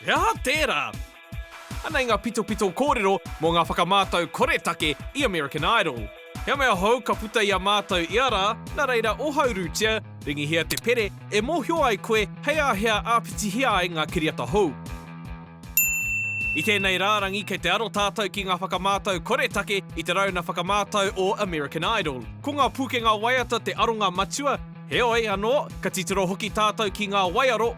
He aha tērā? Anei ngā pitopito kōrero mō ngā whakamātau koretake i American Idol. He mea hou ka puta i a mātou ia rā, nā reira ohaurutia, ringihia te pere e mōhio ai koe hei āhea āpitihia ai ngā kiriata hou. I tēnei rārangi kei te aro tātou ki ngā whakamātau koretake i te rauna whakamātau o American Idol. Ko ngā pūkenga waiata te aronga matua, heoi anō, ka titiro hoki tātou ki ngā waiaro,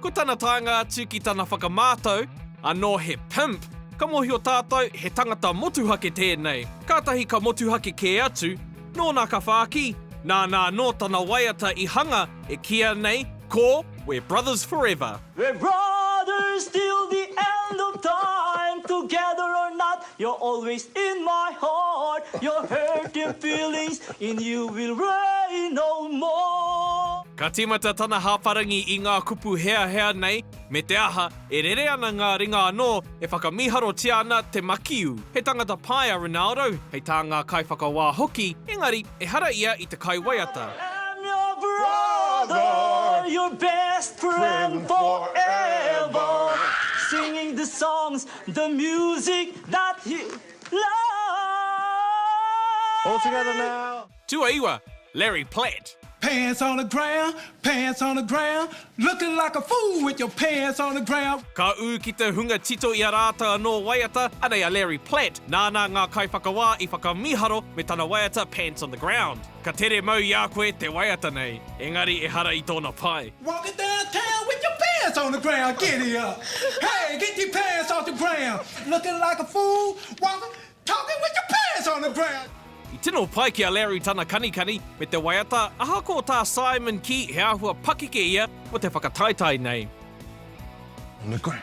Ko tana taenga atu ki tana whakamātau, Anō he pimp, ka mōhio tātou he tangata motuhake tēnei. Kātahi ka motuhake kē atu, nōna ka whāki, nāna anō tana waiata i hanga e kīia nei ko We're brothers forever. We're brothers till the end of time Together or not, You're always in my heart Your hurting feelings in you will rain no more. Ka tīmata tana hāparangi i ngā kupu heahea nei, me te aha, e rere ana ngā ringa anō e whakamīharotia ana te makiu. He tangata pai a Ronaldo, hei tā ngā kaiwhakawā hoki, engari, ehara ia i te kaiwaiata. I am your brother, your best friend forever Singing the songs The music that he All together loved. now. Tuaiwa, Larry Platt. Pants on the ground, pants on the ground, looking like a fool with your pants on the ground. Ka ū ki te hunga tito i a rātou anō waiata, anei a Larry Platt, nāna ngā kaiwhakawā i whakamīharo me tana waiata Pants on the Ground. Ka tere mau i a koe te waiata nei, engari ehara i tōna pae. Walk it down town with your pants on the ground Giddy up Hey, get your pants off the ground Looking like a fool Walk, talking with your pants on the ground. I tino pai ki a Larry tana kanikani me te waiata ahakoa tā Simon kī he āhua pakeke ia mō te whakataetae nei. On the ground.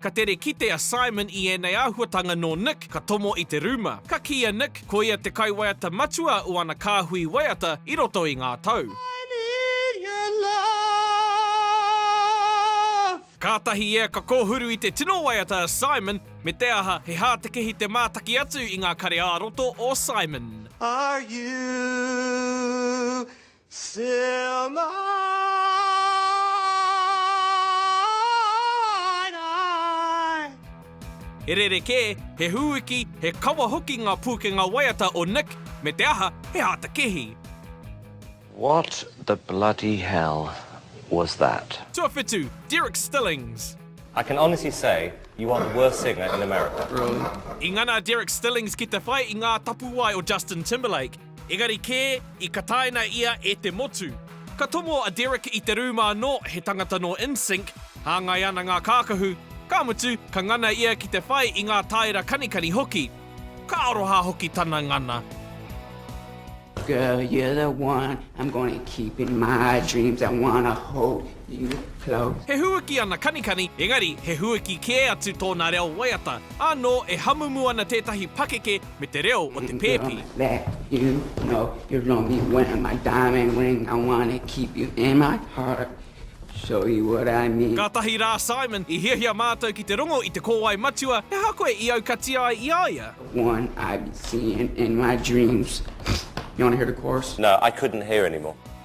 Ka tere kite a Simon i ēnei āhuatanga nō Nick ka tomo i te rūma. Ka kī a Nick ko ia te kaiwaiata matua o ana kāhui waiata i roto i ngā tau. I need your love. Kātahi ia ka kōhuru i te tino waiata a Simon, me te aha, he hātekehi te mātaki atu i ngā kare ā-roto o Simon. Are you He rerekē, he hūiki, he kawa hoki ngā pūkenga waiata o Nick, me te aha, he āta kehi. What the bloody hell was that? Tuawhitu, Derek Stillings. I can honestly say you are the worst singer in America. I ngana a Derek Stillings ki te whai i ngā tapuwae o Justin Timberlake. Engari kē, i kataina ia e te motu. Ka tomo a Derek i te rūma anō, he tangata nō Insync, hāngai ana ngā kākahu, ka mutu, ka ngana ia ki te whai i ngā tāera kanikani hoki. Ka aroha hoki tana ngana. Girl you're the one I'm gonna keep in my dreams I wanna hold you close. He hūiki ana kanikani, engari he hūiki kē atu tōna reo waiata. Ānō e hamumu ana tētahi pakeke me te reo o te pēpi. Kātahi rā, Simon, i hiahia mātou ki te rongo i te kōwae matua, he aha koe i aukatia ai i a ia? Simon, No, I couldn't hear anymore.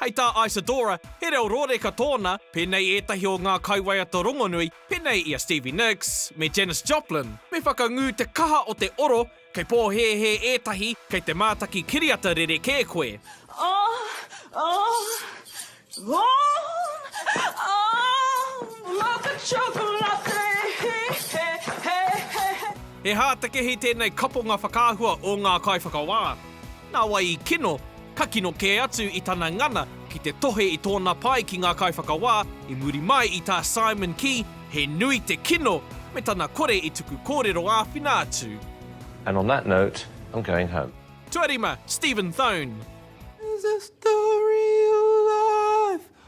Hei tā Isadora, he reo rōreka tōna, pēnei ētahi o ngā kaiwaiata rongonui, pēnei i a Stevie Nicks me Janis Joplin, me whakangū te kaha o te oro, kei pōhēhē ētahi, kei te mātaki kiriata rerekē koe. Oh, oh, oh, oh, like a chocolate, he, he, he, he, he. He hātekehi tēnei kaponga whakaahua o ngā kaiwhakawā. Nā wai i kino, ka kino kē atu i tana ngana ki te tohe i tōna pae ki ngā kaiwhakawā i muri mai i tā Simon kī he nui te kino me tana kore i tuku kōrero āwhina atu. And on that note, I'm going home. Tuarima, Stephen Thone. There's a story of life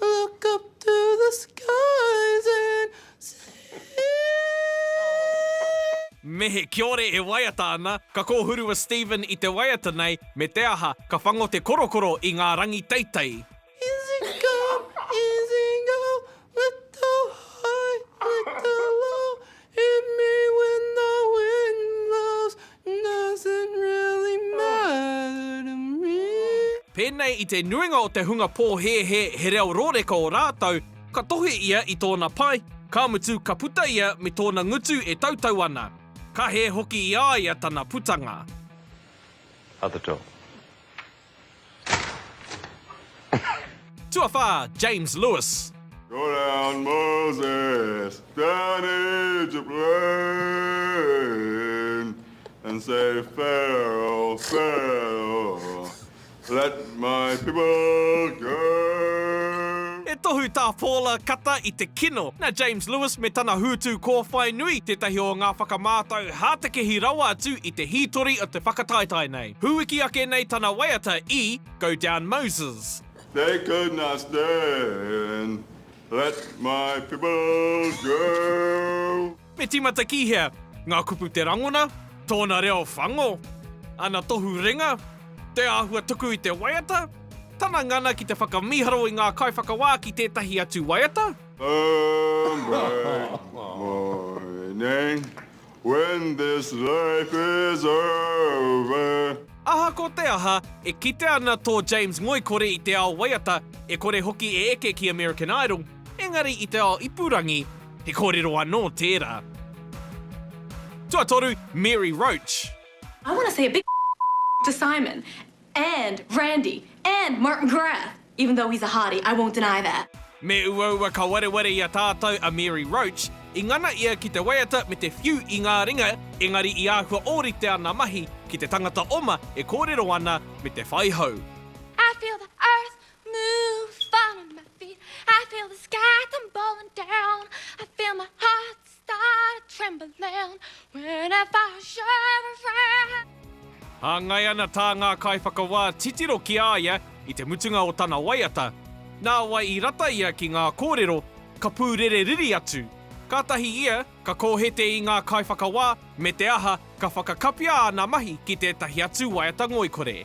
Look up to the skies and see Mehe, kiore e waiata ana, ka kōhuru a Stephen i te waiata nei, me te aha, ka whango te korokoro i ngā rangi teitei. Easy come, easy go, little high, little low, Hit me when the wind blows Does it really matter to me? Pēnei i te nuinga o te hunga pōhēhē he reo rōreka ō rātou, ka tohe ia i tōna pae, ka mutu ka puta ia me tōna ngutu e tautau ana. Ka hē hoki i a ia tana putanga. Other dog. Tuawhā, James Lewis. Go down Moses, down Egypt lane And say Pharaoh, Pharaoh, let my people go. He tohu tā Paula kata i te kino. Nā James Lewis me tana hūtu kōwhai nui tētahi o ngā whakamātau hātekehi rawa atu i te hītori o te whakataetae nei. Hūiki ake nei tana waiata i Go Down Moses. They could not stand Let my people go. Me tīmata ki hea? Ngā kupu te rangona, tōna reo whango, ana tohu ringa, te āhua tuku i te waiata, tana ngana ki te whakamīharo i ngā kaiwhakawā ki tētahi atu waiata. Home break morning When this life is over. Aha ko te aha, e kite ana tō James ngoikore i te ao waiata, e kore hoki e eke ki American Idol, engari i te ao ipurangi, he kōrero anō tērā. Tuatoru, Mary Roach. I want to say a big to Simon. And Randy and Martin Graf! Even though he's a hottie, I won't deny that. Me uaua ka wareware i a tātou a Mary Roach, i ngana ia ki te waiata me te whiu i ngā ringa, engari i āhua ōrite ana mahi ki te tangata oma e kōrero ana me te whai hou. I feel the earth move under my feet I feel the sky tumbling down I feel my heart Hāngai ana tā ngā kaiwhakawā titiro ki a ia i te mutunga o tana waiata, nāwai i rata ia ki ngā kōrero, ka pūrere riri atu. Kātahi ia ka kōhete i ngā kaiwhakawā me te aha ka whakakapia āna mahi ki tētahi atu waiata ngoikore.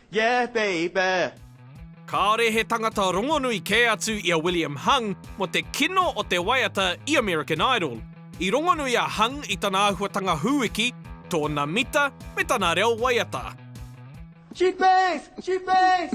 Yeah baby! Kāore he tangata rongonui kē atu i a William Hung mō te kino o te waiata i American Idol. I rongonui a Hung i tana āhuatanga hūiki, tōna mita, me tana reo waiata. She bangs! She bangs!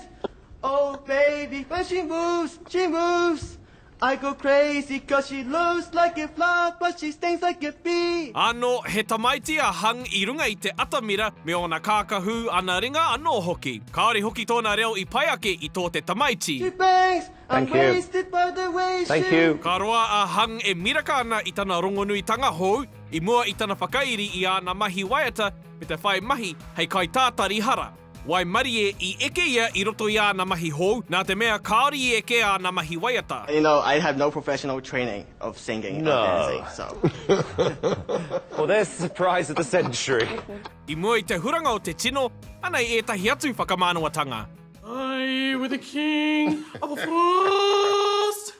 Oh baby, when she moves, she moves! I go crazy cos she looks like a flower but she stings like a bee. Anō he tamaiti a Hung i runga i te atamira me ōna kākahū, ana ringa anō hoki. Kāore hoki tōna reo i pai ake i tō te tamaiti. She bangs, I'm wasted by the way she. Ka roa a Hung e miraka ana i tana rongonuitanga hou i mua i tana whakairi i āna mahi waiata me te whai mahi hei kaitātari hara. Waimarie i eke ia i roto i āna mahi hou, nā te mea kāore i eke āna mahi waiata. You know, I have no professional training of singing or dancing, so. Well, there's the surprise of the century. I mua i te huranga o te tino, anei ētahi atu whakamānawatanga. I with the king of France.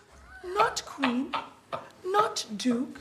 Not queen, not duke,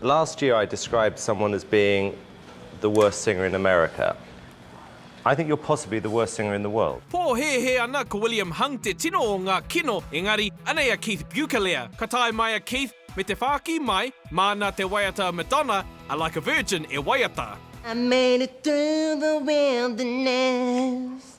Last year I described someone as being the worst singer in America. I think you're possibly the worst singer in the world. Pōhēhē ana ko William Hung te tino o ngā kino, engari, anei a Keith Bukelea. Ka tae mai a Keith, me te whāki mai, māna te waiata a Madonna, a Like a Virgin e waiata. I made it through the wilderness.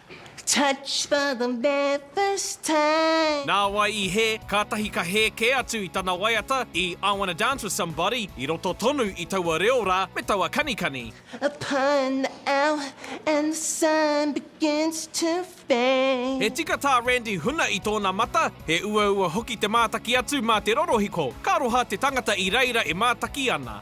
Touch for the very first time. Nāwai i hē, kātahi ka hē kē atu i tana waiata i I Wanna Dance With Somebody i roto tonu i taua reo rā me taua kanikani. Upon the hour and the sun begins to fade. He tika tā Randy Huna i tōna mata, he uaua hoki te mātaki atu mā te rorohiko, ka aroha te tangata i reira e mātaki ana.